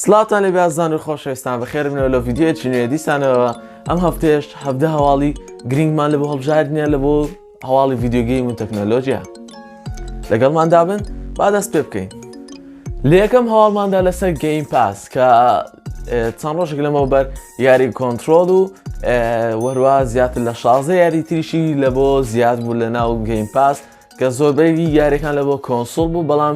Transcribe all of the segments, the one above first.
سڵاوتان لێبێ ئازان و خۆشەویستان بەخێر بنەوە لە ڤیددیوەکی نوێ دیسانەوە ئەم هەفتێش هەفتە هەواڵی گرنگمان لە بۆ هەڵبژاردنە لە بۆ هەواڵی ڤیددیوگەی من تەکنەلۆژیە لەگەڵمان دابن با دەست پێ بکەین لە یەکەم هەواڵماندا لەسەر گەیم پاس کە چەند ڕۆژێک لەمەوە بەر یاری کۆنتترۆل و وەروا زیاتر لە شازە یاری تریشی لە بۆ زیاد بوو لە ناو گەیم پاس کە زۆربەری یاریەکان لە بۆ کۆنسول بوو بەڵام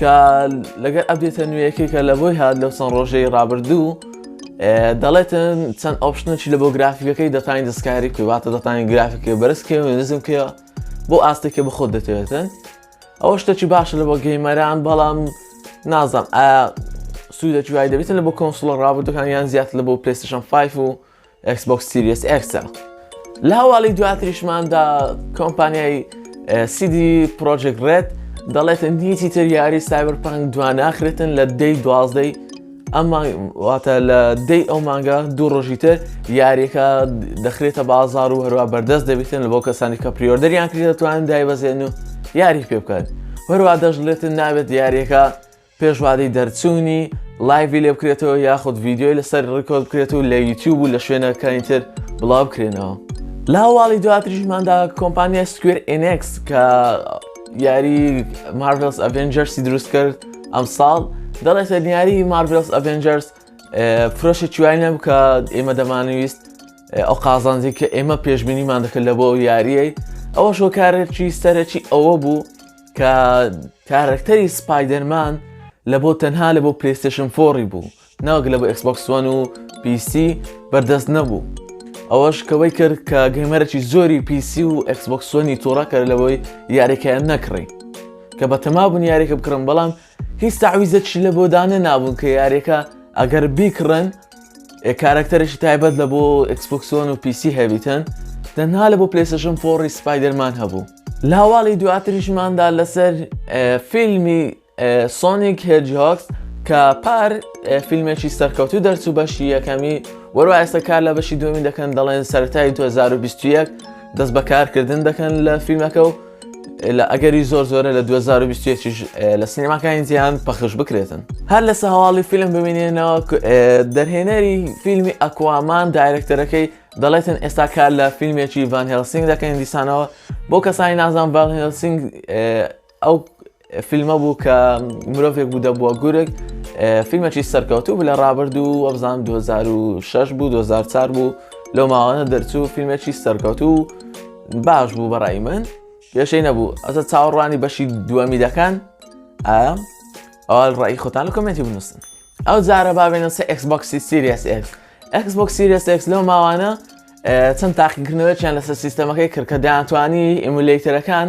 کە لەگەر ئەبێتە نوێیەکەی کە لە بۆی هاات لەو چەند ڕۆژەی ڕابردوو دەڵێتن چەند ئۆپشنەکی لە بۆ گرافیکەکەی دەتانی دەستکاری کواتە دەتانی گرافیکە بەرزکە و نزم کە بۆ ئاستێکە بە خۆت دەتوێتن ئەوە شتەکی باشە لە بۆ گەیمەران بەڵام نازم ئایا سوودە جوای دەبێتن لە بۆ کۆنسڵ ڕابردەکان یان زیات لە بۆ پلستشن 5 و ئێکسبۆکس سیریەس ئێکسە لە هەواڵی دواتریشماندا کۆمپانیای سیدی پرۆژێک ڕێت دەڵێتن دیتی تر یاری سایبەر پانک دواناخرێتن لە دەی دوازدەی ئەمواتە لە دەی ئەو مانگە دوو ڕۆژی تر یاریەکە دەخرێتە بازار و هەروە بەردەست دەبێتن لە بۆ کەسانی کە پریۆردەریان کرێتوان دای بەزێن و یاری پێ بکات هەروە دەشڵێتن ناوێت یاریەکە پێش وادەی دەرچوونی لایڤی لێ بکرێتەوە یاخود ڤیددیوی لەسەر ڕکۆل بکرێت و لە یوتیوب و لە شوێنەکانی تر بڵاو بکرێنەوە لە هەواڵی دواتریشماندا کۆمپانیای سکوێر ئنکس کە یاری مارڤلس ئەڤنجەرسی دروست کرد ئەم ساڵ دەڵێتە دیاری مارڤلس ئەڤنجەرس فرۆشە چوانە بکە ئێمە دەمانویست ئەو قازانجی کە ئێمە پێشببینیمان دەکرد لە بۆ یاریەی ئەوە شۆکارێکی سەرەکی ئەوە بوو کە کارەکتەری سپایدەرمان لە بۆ تەنها لە بۆ پلیستشن فۆڕی بوو ناوک لە بە ئەسبکسۆن و پیسی بەردەست نەبوو ئەوەش کەوەی کرد کە گەمەرەی زۆری پیسی و ئەسبکسۆنی تۆڕەکە لەوەی یاریکەیان نەکڕی کە بە تەمابوون یاریکە بکڕم بەڵام هیچ تەعویزەکشی لە بۆ دانەنابوون کە یاریەکە ئەگەر بیکڕن کارەکتەرێکی تایبەت لە بۆ ئەکسپۆکسۆن و پیسی هەبیتن تەنها لە بۆ پلێسەشن فۆڕی سپایدەرمان هەبوو لاواڵی دواتریشماندا لەسەر فیلمی سۆنیک هێجهاکس کە پار فیلمێکی سەرکەوتو دەرچوو بەشی یەکەمی وەرو ئێستا کار لە بەشی دومی دەکەن دەڵێن سەرای 2021 دەست بەکارکردن دەکەن لە فیلمەکە و لە ئەگەری زۆر زۆرە لە 2021 لە سینەماکانی جیهان پەخش بکرێتن هەر لەسە هەواڵی فیلم ببینێنەوە دەرهێنەری فیلمی ئەکوامان دایرەکتەرەکەی دەڵێتن ئێستا کار لە فیلمێکی ڤان هێلسینگ دەکەین دیسانەوە بۆ کەسانی نازان ڤان هێلسینگ ئەو فیلمە بوو کە مرۆڤێک بوو دەبووە گورگ فیلمەکی سەرکەوتوو بوو لە ڕابردوو وەبزان 2006 بوو 2004 بوو لەو ماوانە دەرچوو فیلمێکی سەرکەوتوو باش بوو بەڕای من پێشەی نەبوو ئەسە چاوەڕوانی بەشی دووەمی دەکەن ئایا ئەوە ڕای خۆتان و کمنتی بنووسن ئەو جارە بابێنە سە ئەکسبکسی سیریس ئەکس ئەکسبک سیریس ئەکس لەو ماوانە چەند تاقیکردنەوەیان لەسەر سیستەمەکەی کردکە دەیانتوانی ئیمولەیتەرەکان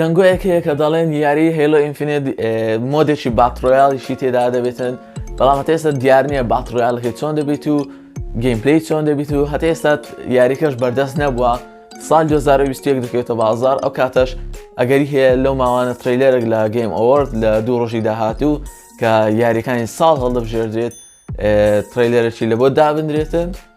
دەنگۆیەک هەیە کە دەڵێن یاری هەیلۆ ئینفینێت مۆدێکی باتڕۆیاڵیشی تێدا دەبێتن بەڵام هەتا ئێستا دیار نییە باتڕۆیاڵەکەی چۆن دەبیت و گەیمپلی چۆن دەبیت و هەتا ئێستا یاریکەش بەردەست نەبووە سال 2021 دەکەوێتە بازار ئەو کاتەش ئەگەری هەیە لەو ماوانە تریلەرێک لە گەیم ئەوەرد لە دوو ڕۆژی داهاتوو کە یاریەکانی ساڵ هەڵدەبژێردرێت تریلەرەی لە بۆ دابدرێتن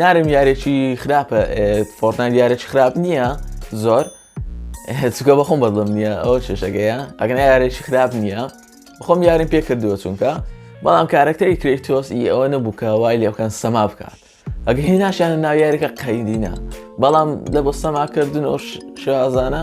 نارم یارێکی خراپە فۆرتنایت یارێکی خراپ نییە زۆر چکە بەخۆم بەدڵم نییە ئەو چێشەکەیە ئەگەنا یارێکی خراپ نییە خۆم یارم پێ کردووە چونکە بەڵام کارەکتەری کرێکتۆس ئی ئەوە نەبووکە وای لێکەن سەما بکات ئەگە هی ناشیانە ناویارەکە قەیدینە بەڵام لە بۆ سەماکردن ئەو شازانە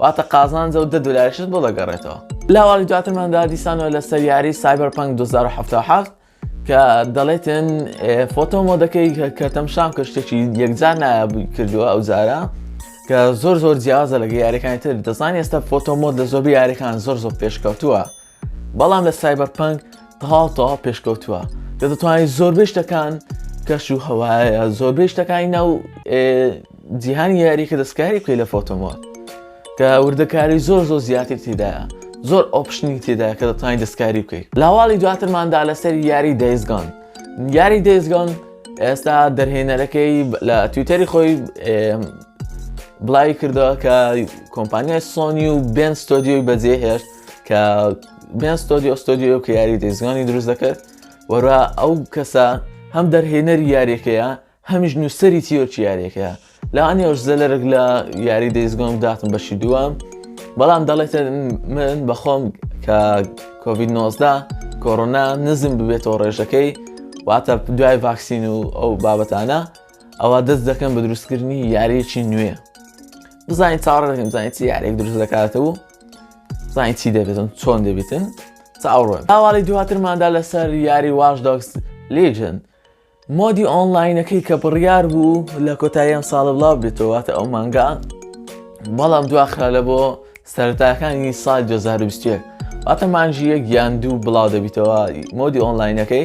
واتە قازانج ئەو دە دۆلاریشت بۆ دەگەڕێتەوە. لە هەواڵی دواترماندا دیسانەوە لەسەر یاری Cyberpunk 2077 کە دەڵێتن فۆتۆ مۆدەکەی کەتەم شام کە شتێکی یەکجار نایابووی کردووە ئەو جارە کە زۆر زۆر جیازە لەگە یاریەکانی تر دەزان ئێستا فۆتۆ مۆد لە زۆربی یاریەکان زۆر زۆر پێشکەوتووە بەڵام لە سایبەرپەنک تەواو تەواو پێشکەوتووە کە دەتوانێت زۆربەی شتەکان کەش و هەوایە زۆربەی شتەکانی ناو جیهانی یاری کە دەستکاری بکەی لە فۆتۆمۆت کە وردەکاری زۆر زۆر زیاتر تێدایە زۆر ئۆپشنی تێدا کە دەتوانین دەستکاری بکەیت لاواڵی دواترماندا لەسەر یاری دەیزگان یاری دەیزگان ئێستا دەرهێنەرەکەی لە تویتەری خۆی بڵاوی کردەوە کە کۆمپانیای سۆنی و بێن ستۆدیۆی بەجێهێشت کە بێن ستۆدیۆ ستۆدیۆ کە یاری دەیزگانی دروست دەکرد وەرا ئەو کەسە هەم دەرهێنەری یاریەکەیە هەمیش نووسری تیۆرکی یاریەکەیە لە ئەنیۆش زەلەرگ لە یاری دەیزگۆم داتم بەشی دووەم بەڵام دەڵێتە من بەخۆم کە کۆVید 19دا کۆرۆنا نزم ببێتەوە ڕێژەکەی واتە دوای ڤاکسین و ئەو بابەتانە ئەوە دەست دەکەم بە دروستکردنی یاریەکی نوێ بزانین چاڕێکم زانانی چی یارێک دروست دەکاتەوە زانانی چی دەبێتن چۆن دەبیتن چاوڕۆن ئاواڵی دواترماندا لەسەر یاری واش دۆکس لیژن مۆدی ئۆنلاینەکەی کە بڕیار بوو لە کۆتاییان ساڵە بڵاو بێتەوەواتە ئەو مانگا بەڵام دواخرا لە بۆ سەرتاکانی سال 2020 واتە مانژیە گیان دوو بڵاو دەبیتەوە مۆدی ئۆنلاینەکەی